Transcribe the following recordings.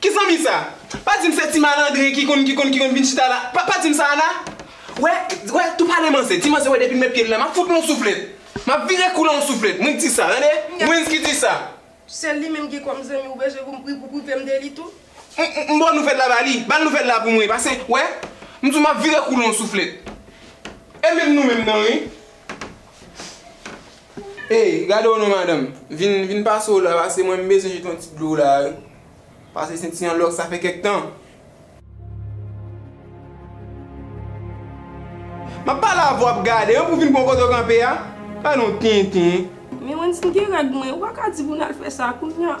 Ki zanmi sa? Pa dim se ti malandren ki konn ki konn ki konn vin chita la pa dim sa Ana wè wè tou pale manzè ti manzè wè depim met pyem la map fout l on souflèt map vire kou l on souflèt mwen k di sa tande mwenz ki di sa. Sèl li menm ki kòm zanmi ou bezwen pou m pri pou privem de li tou. M ba w nouvèl la ba li bal nouvèl la pou mwen pase wè m di w map vire kou l on souflèt e menm nou menm nan wi. Hey gade w non madanm, vin pase w la pase mwen m bezwen jete yon ti dlo w la wi, pase se ti yon lòk sa fè kèk tan. Map pale avè w wap gade an pou w vin pran kote w kanpe a, gade yon tenten. Men Wendy m gen règ mwen, ou pa ka di pou n al fè sa kounya.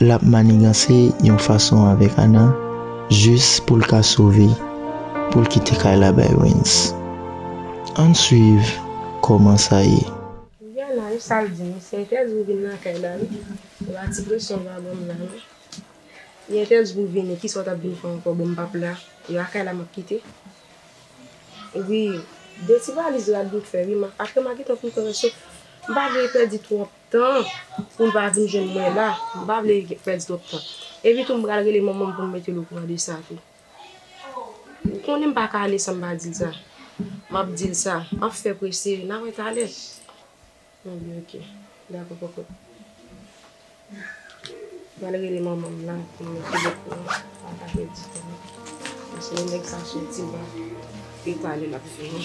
Lap maniganse yon fason avèk Ana jis poul ka sove poul kite kay la bay Rens. Ann swiv kòman sa ye. Mdi Ana wi sal di m se entèdi m vin nan kay la wi se pa ti presyon yo ap banm la non li entèdi pou vini kisa ou tap vin fè ankò bon m pap la e a kay la map kite wi 2 ti valiz rad m fè wi aprè ma gentan fin pran rès yo m pa vle pèdi twòp. Tan pou l pa vin jwenn mwen la, m pa vle pèdi twòp tan. Epi tou m pral rele manman m pou m mete l okouran de sa tou. Ou konnen m pa ka ale san m pa di l sa. M ap di l sa. M ap fè prese. N a wè talè. Anben ok. Dakò kòkòt. M pral rele manman m la pou m mete l okouran. Pou m pa pèdi tan. Paske lè nèg sa soti m pa vle talè l ap fini.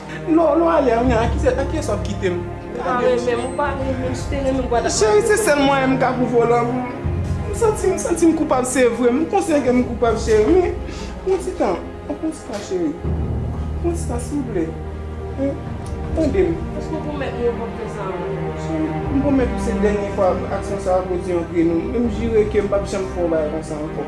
Non non ale an nan ki se nan ki esòp kitem. Ou pa renmenm ou pa renmenm si w te renmenm gwa ta pase. Cheri se sèl mwayen m ka pou volan m santi m santi m koupab se vre m konsyan ke m koupab cheri men yon ti tan yon ti tan cheri yon ti tan silvouplè tande m. Èske w pwomèt m yon pòt fè sa ankò. Cheri m pwomèt ou se dènye fwa aksyon sa a koz yon grenn menm jire ke m pap janm fè yon bagay konsa ankò.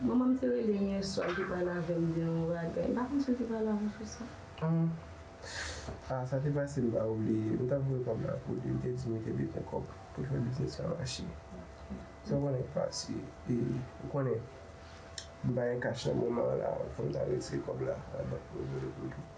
Manman m te rele m yè swa, l te pale avè m de yon bagay. M pa konn si l te pale avè w sou sa. Aah. Aah, sa te pase m pa oubliye. M t ap voye kòb la pou li, li te di m li te bezwen kòb pou l fè biznis la mache. Sa w konnen k pase. E, ou konnen, m pa gen kach nan moman an la, fò m t al retire kòb la nan bank pou l voye pou l tou.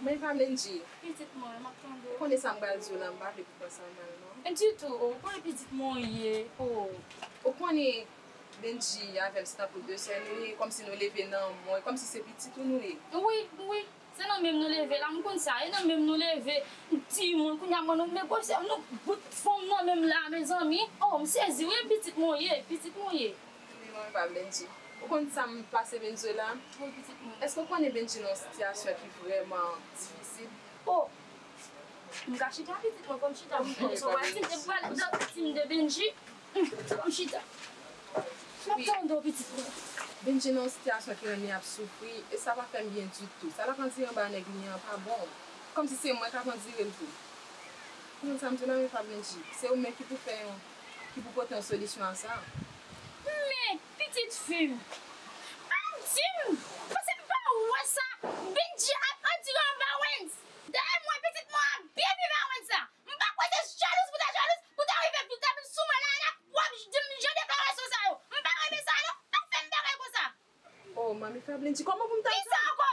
Men pa Mendy. Pitit mwen, m ap tande w. Konnen sa m pral di w la, m pa vle pou pran sa mal non. Mendy tou, ou konnen pitit mwen w ye, oo. Ou konnen Mendy avè m se tankou de sè nou ye, kòmsi nou leve nan mwen, kòmsi se pitit ou nou ye. Wi, wi, se nan menm nou leve la, m konn sa, e nan menm nou leve, m ti moun, kounye a mwen nou negosye, m nou bout fòm nan menm la a mezanmi, oo m sezi wi, pitit mwen w ye, pitit mwen w ye. Kenbe manmi pa Bendji. Ou konn sam pase Venezuela? Wi pitit mwen. Eske ou konnen Bendji nan yon sitiyasyon ki vrèman difisil? O! M ka chita pitit mwen fòm chita m pran swen Bendji. Mwen pral pran swen pitit m de Bendji. Fòm chita. Map tande w pitit mwen. Bendji nan yon sitiyasyon ki rèn li ap soufri e sa pa fè m byen ditou. Sa lap andire anba nèg li an pa bon. Kòmsi se mwen kap andire l tou. Ou konn sam di w la menm pa Bendji. Se ou menm ki pou fè yon. ki pou pote yon solisyon a sa a. Men, pitit fi m, pa di m, Pase m pa wè sa Bendjy ap andire anba Wens. Dayè mwen, pitit mwen ap byen viv a Wens la. M pa kwè se jalouz pou ta jalouz pou ta rive vin ta vin sou mwen la a la pou w ap di m jan deklarasyon sa yo. M pa renmen sa a non. Pa fè m bagay konsa. O, manmi Fablen di, Kòman pou m ta di sa? Ki sa ankò?